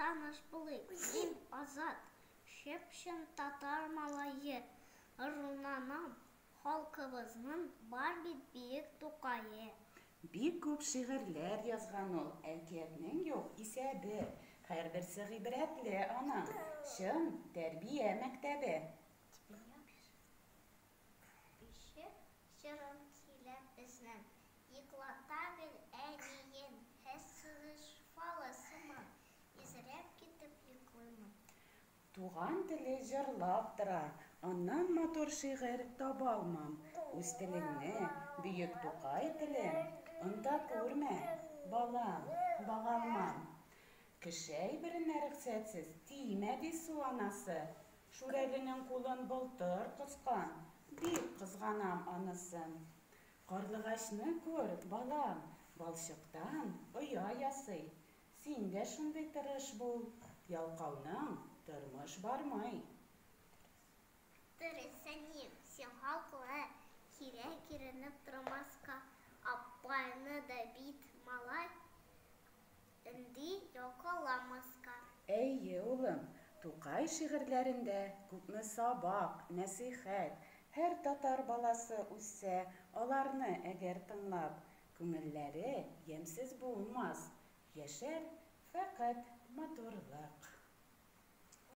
Таныш булыйк, мин Азат, чып-чын татар малае, Рунанам, халкыбызның бар бит биек Тукае. Бик күп шигырьләр язган ул, әкиятнең юк исәбе, һәрберсе гыйбрәтле аның, чын тәрбия мәктәбе. Кеше җырын сөйләп безнең. Йоклата гел әниен. Хәс сызыш фалы сыман. Изрәп китеп йоклыймын. Туган теле җырлап тора. Аннан матур шигырь табалмам. Үз телеңне, бөек Тукай телем. Онта күрмә, балам, багалмам. Кеше әйберенә рөхсәтсез. Тимә, ди су анасы. Шүрәленең кулын былтыр коскан, бик кызганам анысын. Карлыгачны күр, балам, балчыктан оя ясый. Син дә шундый тырыш бул, ялкауның тормыш бармый. Дөрес, әнием, син хаклы, кирәк иренеп тормаска, апайны да бит малай. Энди якаламаска. Әйе, улым, Тукай шигырьләрендә күпме сабак, нәсыйхәт! Һәр татар баласы үссә, аларны әгәр тыңлап, күңелләре ямьсез булмас, яшәр фәкать матурлык.